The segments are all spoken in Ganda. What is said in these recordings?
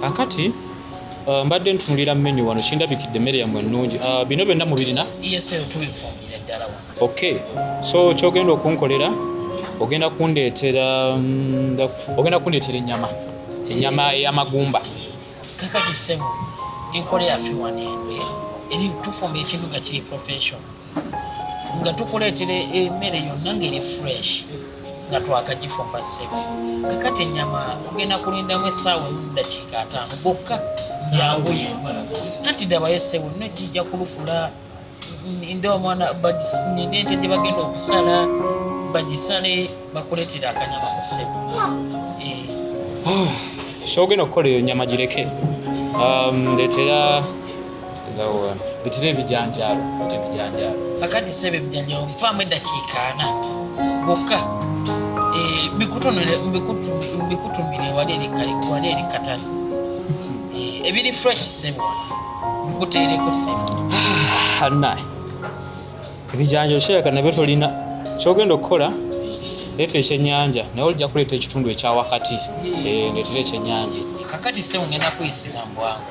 kakati uh, mbadde ntunulira menu wano kindabikidde emmere yammwe ennungi uh, bino byonna mubirina ok so kyogenda okunkolera ogenda kundeetera mm, ogenda kundeetera ennyama ennyama ey'amagumba kakati sebo enkola yaffe wano eno eh? eri tufumba ekintu nga kiri professional nga tukuleetera emmere yonna ngeri fresh nga twakagifumba ssebo kakati ennyama ogenda kulindamu essaawa emu ddakiika ataano gokka janguye anti dabayo ssebo no kijja kulufula nde omwana ninde ente gye bagenda okusala bagisale bakuleetera akanyama mu ssebo eh. kyogenda okukola eyo nyama gireke um, ndeetera bitira ebijanjaalo bita ebijanjaalo kakati sebe ebijanjaalo mpaamu eddakiika ana bokka eh, mbikutumire wali eri katale eh, ebiri fresh sebe mbikuteereko sebe anaye ah, ebijanjaalo kirabika nabyo tolina kyogenda okukola leeta ekyenyanja naye olijja kuleeta ekitundu ekyawakati eh, ndeetera ekyenyanja kakati sebe ngenda kuyisiza mbwangu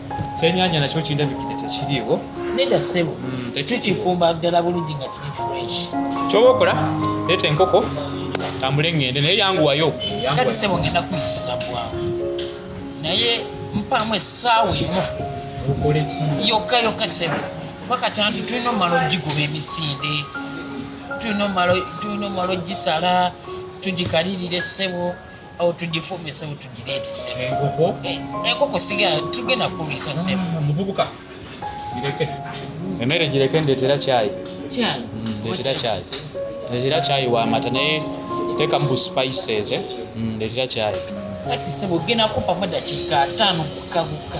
kyenyanja nakyo kindabikide tekiriiwo neda sebo mm, tekikifumba ddala bulungi nga kiri fresh kyoba okola leeta enkoko tambule ngende naye yanguwayo kati sebo ngenda kuyisiza bwangu naye mpaamu essaawa emu yokka yokka sebo bakatanti tulina omumala ogiguba emisinde tulina omumala ogisala tugikalirira essebo awo tugifumbye sebo tugireete sebo enkoko eh, enkoko sigala tugenda kuliisa sebo ah, muvubuka gireke emmere gireke ndeetera kyayi kyayi mm, ndeetera kyayi ndeetera kyayi wamata naye teekamu bu spices eh? mm, ndeetera kyayi kati sebo ogenda kumpamu dakiika ataano gukka gukka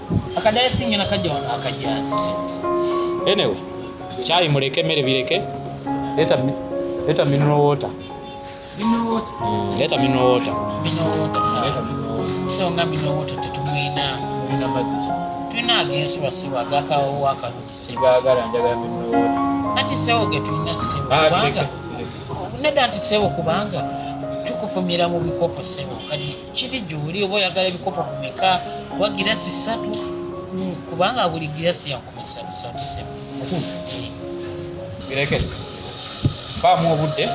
akadayasi ngena kajja wano akajasi anyway kyayi muleke mere bireke leta leta mineral water mineral water mm, leta mineral water mineral water leta mineral water so nga mineral water tetumwina ina maziki tuna agensi basiba agaka owo akalungi siba agala njagala mineral water ati sewo getulina siba ah, kubanga nedda nti sebo kubanga tukupumira mu bikopo sebo kati kiri gyoli oba oyagala ebikopo bumeka oba girasi satu hmm, kubanga buli girasi yakumisatusatusebu bireke baamu obudde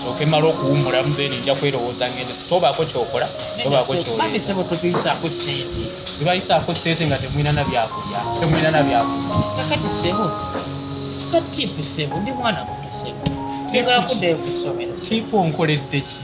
soke mala okuwumulamu then nja kwerowooza ngende sitobaako kyokola tobaako kyobabisebo tutuyisaako sente zibayisaako sente nga temwina na byakulya temwina na byakulya kakati sebo katipu sebo ndi mwana muto sebo tegala kuddayo kusomero tipu onkoledde ki